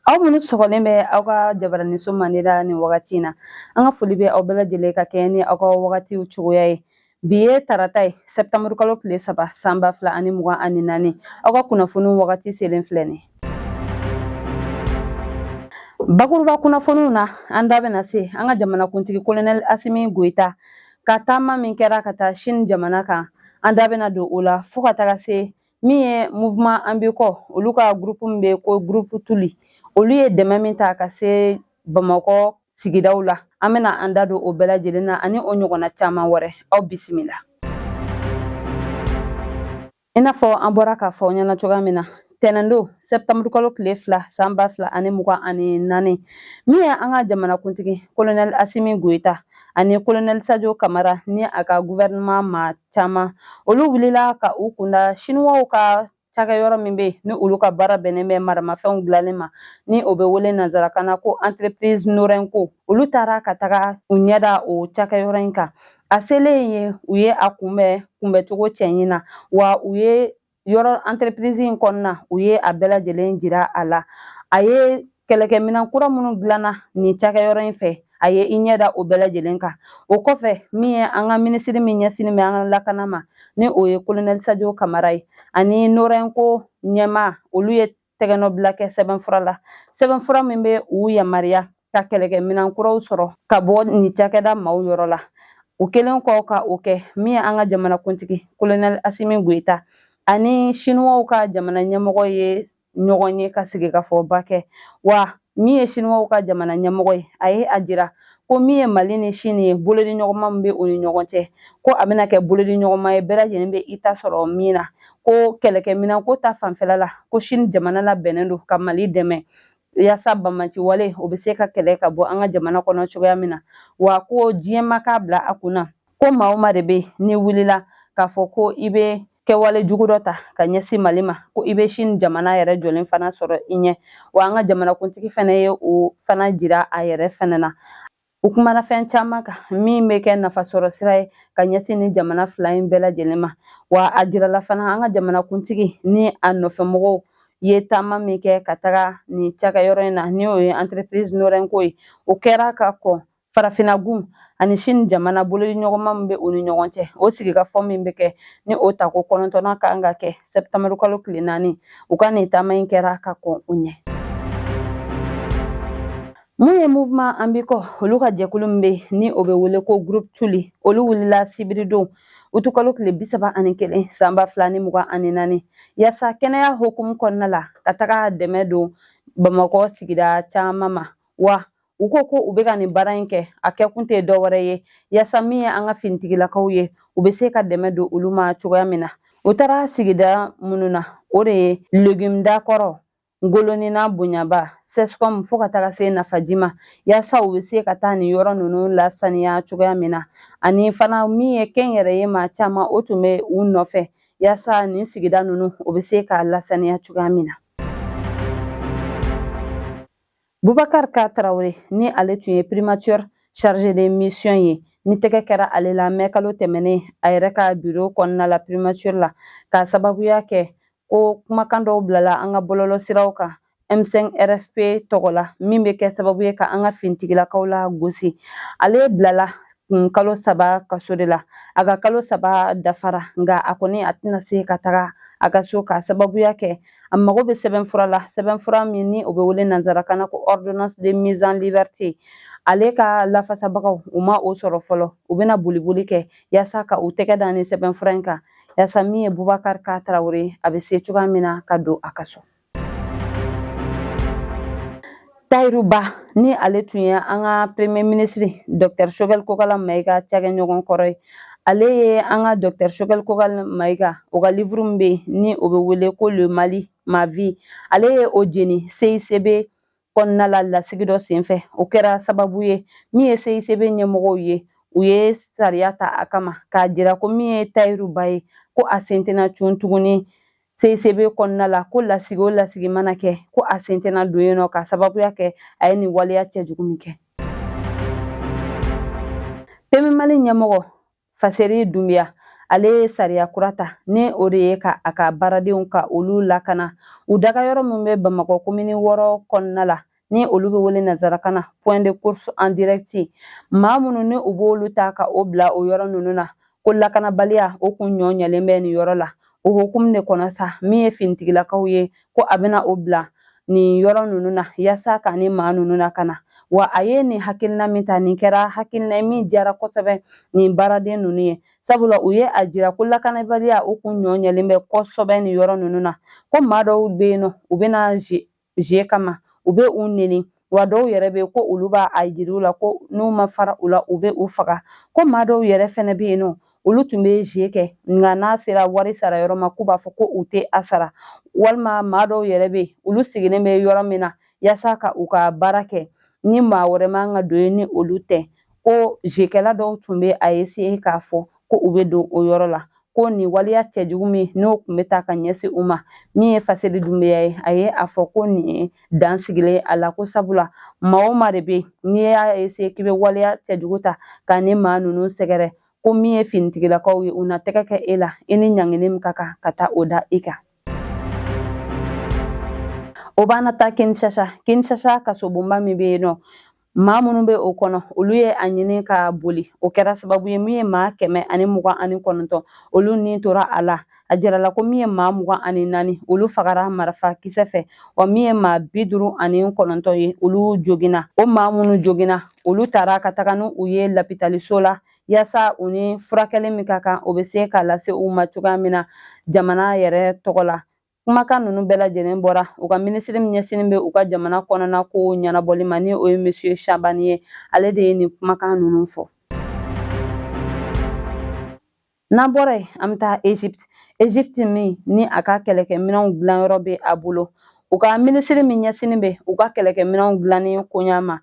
aw minnu sɔgɔlen bɛ aw ka jabaraniso mande la nin wagati in na an ka foli bɛ aw bɛɛ lajɛlen ka kɛɲɛ ni aw ka wagatiw cogoya ye Bi ye tarata ye sɛptamburu kalo tile saba san ba fila ani mugan ani naani aw ka kunnafoni wagati selen filɛ nin bakuruba kunnafoniw na an da bɛna se an ka jamanakuntigi kolonɛli asimi goyita ka taama min kɛra ka taa sini jamana kan an da bɛna don o la fo ka taga se min ye mouvement an biko olu ka groupe min bɛ ko groupe tuli olu ye dɛmɛ min ta ka se bamakɔ sigidaw la an bɛna an da don o bɛɛ lajɛlen na ani o ɲɔgɔnna caman wɛrɛ aw bisimila i n'a fɔ an bɔra k'a fɔ aw ɲɛna cogoya min na tɛnɛndon sɛptamburu kalo tile fila san ba fila ani mugan ani naani min ye an ka jamanakuntigi kolonɛli asimi goyita ani kolonɛli sajo kamara ni a ka guvɛrɛnɛman maa caman olu wulila ka u kunda siniwaw ka cakɛyɔrɔ min bɛ ni olu ka baara bɛnnen bɛ maramafɛnw dilanni ma ni o bɛ wele nanzarakan na ko entreprise norɛnko olu taara ka taga u ɲɛ da o cakɛyɔrɔ in kan a selen ye u ye a kunbɛ kunbɛcogo cɛɲi na wa u ye yɔrɔ entreprise in kɔnɔna u ye a bɛɛ lajɛlen jira a la a ye kɛlɛkɛminɛn kura minnu dilanna nin cakɛyɔrɔ in fɛ a ye i ɲɛ da o bɛɛ lajɛlen kan o kɔfɛ min ye an ka minisiri min ɲɛsinnen bɛ an ka lakana ma ni o ye kolonɛli sajo kamara ye ani norɛnko ɲɛmaa olu ye tɛgɛnɔbila kɛ sɛbɛnfura la sɛbɛnfura min bɛ u yamaruya ka kɛlɛkɛminɛn kuraw sɔrɔ ka bɔ nin cakɛda maaw yɔrɔ la o kɛlen kɔ ka o kɛ min ye an ka jamanakuntigi kolonɛli asimi goyita ani siniwaw ka jamana ɲɛmɔgɔ ye ɲɔgɔn ye ka sigikafɔba kɛ wa min ye siniwaw ka jamana ɲɛmɔgɔ ye a ye a jira ko min ye mali ni sini ye bolodiɲɔgɔnma min bɛ u ni ɲɔgɔn cɛ ko a bɛna kɛ bolodiɲɔgɔnma ye bɛɛ lajɛlen bɛ i ta sɔrɔ min na ko kɛlɛkɛminɛn ko ta fanfɛla la ko sini jamana labɛnnen don ka mali dɛmɛ yaasa banbaanci wale o bɛ se ka kɛlɛ ka bɔ an ka jamana kɔnɔ cogoya min na wa ko diɲɛ maa k'a bila a kun na ko maa o maa de bɛ n'i wulila k'a fɔ ko i bɛ kɛwale jugu dɔ ta ka ɲɛsin mali ma ko i bɛ sini jamana yɛrɛ jɔlen fana sɔrɔ i ɲɛ wa an ka jamanakuntigi fana ye o fana jira a yɛrɛ fana na u kumana fɛn caman kan min bɛ kɛ nafasɔrɔ sira ye ka ɲɛsin nin jamana fila in bɛɛ lajɛlen ma wa a jirala fana an ka jamanakuntigi ni a nɔfɛmɔgɔw ye taama min kɛ ka taga nin cakɛyɔrɔ in na ni o ye entreprise norɛnko ye o kɛra ka kɔn Farafinagun ani Chine jamana bolodi ɲɔgɔnma min bɛ u ni ɲɔgɔn cɛ o sigikafɔ min bɛ kɛ ni o tako kɔnɔntɔnna kan ka kɛ sɛptamɛri kalo tile naani u ka nin taama in kɛra ka kɔn u ɲɛ mun ye mouvement An Biko olu ka jɛkulu min bɛ ni o bɛ wele ko groupe Touly olu wulila sibiridon utukalo tile bi saba ani kelen san ba fila ni mugan ani naani yaasa kɛnɛya hukumu kɔnɔna la ka taga dɛmɛ don bamakɔ sigida caman ma wa u ko ko u bɛ ka nin baara in kɛ a kɛkun tɛ dɔ wɛrɛ ye yaasa min ye an ka finitigilakaw ye u bɛ se ka dɛmɛ don olu ma cogoya min na u taara sigida minnu na o de ye legimda kɔrɔ ngolonina bonyaba CSCOM fo ka taga se nafaji ma yaasa u bɛ se ka taa nin yɔrɔ ninnu lasaniya cogoya min na ani fana min ye kɛnyɛrɛye maa caman o tun bɛ u nɔfɛ yaasa nin sigida ninnu o bɛ se ka lasaniya cogoya min na Bubakar Ka Tarawele ni ale tun ye primature chargé de mission ye ni tɛgɛ kɛra ale la mɛ kalo tɛmɛnen a yɛrɛ ka biro kɔnɔna la primature la ka sababuya kɛ ko kumakan dɔw bilala an ka bɔlɔlɔ siraw kan m5 rfp tɔgɔ la min bɛ kɛ sababu ye ka an ka fintigilakaw lagosi ale bilala kun kalo saba kaso de la a ka kalo saba dafara nka a kɔni a tɛna se ka taga a ka so ka sababuya kɛ a mago bɛ sɛbɛnfura la sɛbɛnfura min ni o bɛ wele nanzarakan na ko ordonnance de mise en liberté ale ka lafasabagaw u ma o sɔrɔ fɔlɔ u bɛna boliboli kɛ yaasa ka u tɛgɛ da nin sɛbɛnfura in kan yaasa min ye bubakari ka tarawele a bɛ se cogoya min na ka don a ka so Tayiru Ba ni ale tun ye an ka premier ministre Docteur Choguel Kokala Mayiga cakɛɲɔgɔn kɔrɔ ye ale ye an ka Docteur Choguel Kokala Mayiga o ka livre min bɛ yen ni o bɛ wele ko Le Mali ma vie ale ye o jeni CICB kɔnɔna la lasigi dɔ senfɛ o kɛra sababu ye min ye CICB ɲɛmɔgɔw ye u ye sariya ta a kama k'a jira ko min ye Tayiru Ba ye ko a sen tɛna cun tuguni CICB kɔnɔna la ko lasigi o lasigi mana kɛ ko a sen tɛna don yen nɔ ka sababuya kɛ a ye nin waleya cɛjugu min kɛ PMU Mali ɲɛmɔgɔ faseri dunbiya ale ye sariya kura ta ni o de ye ka a ka baaradenw ka olu lakana u dagayɔrɔ min bɛ bamakɔ komini wɔɔrɔ kɔnɔna la ni olu bɛ wele nazarakan na point de course en direct maa minnu ni u b'olu ta ka o bila o yɔrɔ ninnu na ko lakanabaliya o kun ɲɔ ɲɛlen bɛ nin yɔrɔ la o hukumu de kɔnɔ sa min ye finitigilakaw ye ko a bɛna o bila nin yɔrɔ ninnu na yaasa ka nin maa ninnu lakana wa a ye nin hakilina min ta nin kɛra hakilina ye min diyara kosɛbɛ nin baaraden ninnu ye sabula u ye a jira ko lakanabaliya o kun ɲɔ ɲɛlen bɛ kosɛbɛ nin yɔrɔ ninnu na ko maa dɔw bɛ yen nɔ u bɛna ze kama u bɛ u neni wa dɔw yɛrɛ bɛ yen ko olu b'a jira u la ko n'u ma fara u la u bɛ u faga ko maa dɔw yɛrɛ fɛnɛ bɛ yen nɔ olu tun bɛ ze kɛ nka n'a sera wari sara yɔrɔ ma k'u b'a fɔ ko u tɛ a sara walima maa dɔw yɛrɛ bɛ yen olu sigilen bɛ yɔrɔ min na yaasa ka u ka baara kɛ ni maa wɛrɛ man ka don yen ni olu tɛ ko zekɛla dɔw tun bɛ a essayer k'a fɔ ko u bɛ don o yɔrɔ la ko nin waleya cɛjugu min n'o tun bɛ ta ka ɲɛsin u ma min ye faseli dunbeya ye a ye a fɔ ko nin ye dan sigilen a la ko sabula maa o maa de bɛ n'i y'a essayer k'i bɛ waleya cɛjugu ta ka nin maa ninnu sɛgɛrɛ ko min ye finitigilakaw ye u na tɛgɛ kɛ e la i ni ɲangini min ka kan ka taa o da i kan o b'an na taa kinshasa kinshasa kasobonba min bɛ yen nɔ maa minnu bɛ o kɔnɔ olu ye a ɲini ka boli o kɛra sababu ye min ye maa kɛmɛ ani mugan ani kɔnɔntɔn olu ni tora a la a jirala ko min ye maa mugan ani naani olu fagara marifa kisɛ fɛ wa min ye maa bi duuru ani kɔnɔntɔn ye olu joginna o maa minnu joginna olu taara ka taga ni u ye lapitaliso la yasa u ni furakɛli min ka kan o bɛ se ka lase u ma cogoya min na jamana yɛrɛ tɔgɔ la Kumakan ninnu bɛɛ lajɛlen bɔra u ka minisiri min ɲɛsinnen bɛ u ka jamana kɔnɔna ko ɲɛnabɔli ma ni o ye monsieur Shabani ye ale de ye nin kumakan ninnu fɔ n'an bɔra yen an bɛ taa Egypte Egypte min ni a ka kɛlɛkɛminɛnw dilanyɔrɔ bɛ a bolo u ka minisiri min ɲɛsinnen bɛ u ka kɛlɛkɛminɛnw dilanni koɲa ma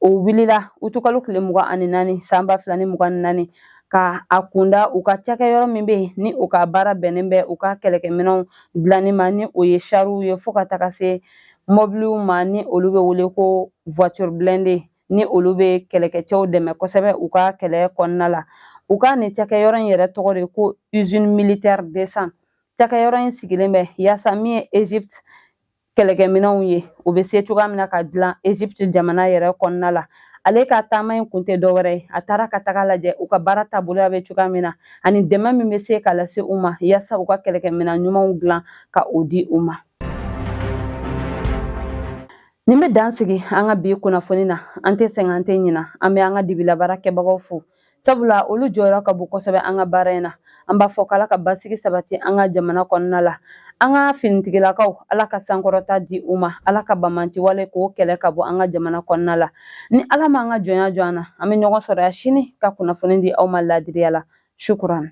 o wulila utukalo tile mugan ani naani san ba fila ni mugan ni naani ka a kunda u ka cakɛyɔrɔ min bɛ yen ni u ka baara bɛnnen bɛ u ka kɛlɛkɛminɛnw dilanni ma ni o ye sariw ye fo ka taga se mɔbiliw ma ni olu bɛ wele ko voiture blindée ni olu bɛ kɛlɛkɛcɛw dɛmɛ kosɛbɛ u ka kɛlɛ kɔnɔna la u ka nin cakɛyɔrɔ in yɛrɛ tɔgɔ de ko usine militaire deux cents cakɛyɔrɔ in sigilen bɛ yaasa min ye egypte kɛlɛkɛminɛnw ye o bɛ se cogoya min na ka dilan egypte jamana yɛrɛ kɔnɔna la ale ka taama in kun tɛ dɔwɛrɛ ye a taara ka taga lajɛ u ka baara taaboloya bɛ cogoya min na ani dɛmɛ min bɛ se ka lase u ma yasa u ka kɛlɛkɛminɛn ɲumanw dilan ka o di u ma nin bɛ dan sigi an ka bi kunnafoni na an tɛ sɛgɛn an tɛ ɲina an bɛ an ka dibilabaarakɛbagaw fo sabula olu jɔyɔrɔ ka bon kosɛbɛ an ka baara in na an b'a fɔ k'ala ka basigi sabati an ka jamana kɔnɔna la an ka finitigilakaw ala ka sankɔrɔta di u ma ala ka banbaanciwale k'o kɛlɛ ka bɔ an ka jamana kɔnɔna la ni ala m'an ka jɔnya jɔ an na an bɛ ɲɔgɔn sɔrɔ yan sini ka kunnafoni di aw ma laadiriya la shukuran